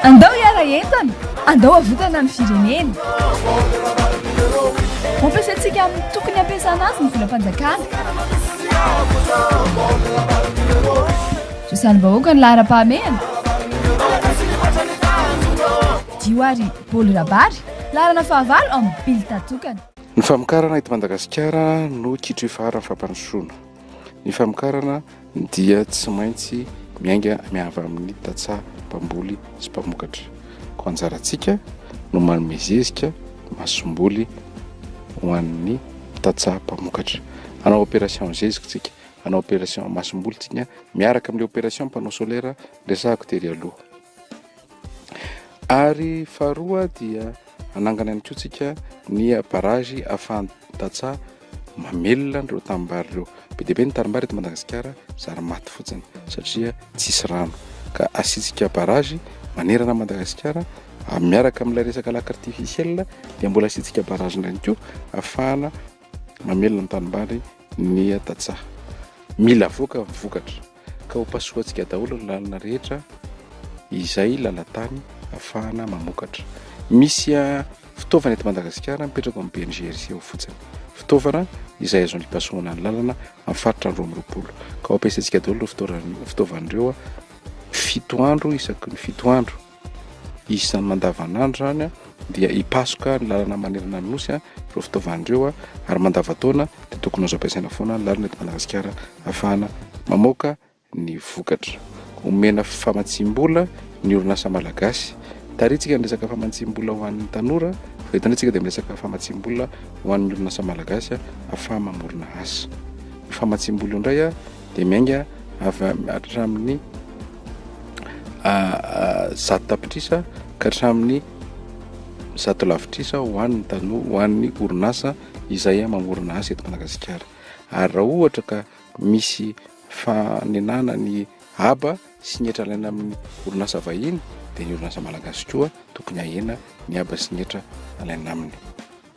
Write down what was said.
Andao hiara entana, andao havotana ny firenena. Ampiasaintsika amin'ny tokony hampiasana azy ny volam-panjakana. Zo salim-bahoaka ny laharam-pahamehana. Dio ary Bolo Rabary, laharana fahavalo amin'ny Bilta tokana. Ny famokarana eto Madagasikara no kitro ifaharan'ny fampandrosoana. Ny famokarana. dia tsy maintsy miainga miava amin'ny tantsaha mpamboly sy mpamokatra. Koa anjarantsika no manome zezika, masomboly ho an'ny tantsaha mpamokatra. Hanao opération zezika tsika, hanao opération masomboly tsika miaraka amin'ilay opération panneau solaire resahako tery aloha. Ary faharoa dia hanangana ihany koa tsika ny barrage Afandatsa mamelona an'ireo tanimbary ireo. Be dia be ny tanimbary eto Madagasikara zary maty fotsiny satria tsisy rano. Ka asiantsika barrage manerana an'i Madagasikara miaraka amin'ilay resaka lac artificiel dia mbola asiantsika barrage indray ihany koa ahafahana mamelona ny tanimbary ny tantsaha. Mila avoaka ny vokatra. ka ho pasohantsika daholo ny lalana rehetra izay lalan-tany afahana mamokatra. Misy fitaovana eto Madagasikara mipetraka amin'ny BNGRC ao fotsiny. Fitaovana izay azony ipasohana ny lalana amin'ny faritra roa amby roapolo. Ka ho ampiasaintsika daholo ireo fitaovana ireo fito andro isaky ny fito andro. Isan'ny mandavanandro izany dia hipasoka ny lalana manerana ny Nosy ireo fitaovana ireo ary mandavan-taona dia tokony azo ampiasaina foana ny lalana eto Madagasikara ahafahana mamoaka ny vokatra. Omena famatsiam-bola ny orinasa malagasy. Tarihintsika ny resaka famatsiam-bola ho an'ny tanora fa eto indray isika dia miresaka famatsiam-bola ho an'ny orinasa malagasy ahafaha-mamorona asa. Io famatsiam-bola io indray dia miainga avy hatramin'ny zato tapitrisa ka hatramin'ny zato lavitrisa ho an'ny tanoa ho an'ny orinasa izay mamorona asa eto Madagasikara ary raha ohatra ka misy fanenana ny haba sy ny hetra alaina amin'ny orinasa vahiny dia ny orinasa malagasy koa tokony ahena ny haba sy ny hetra alaina aminy.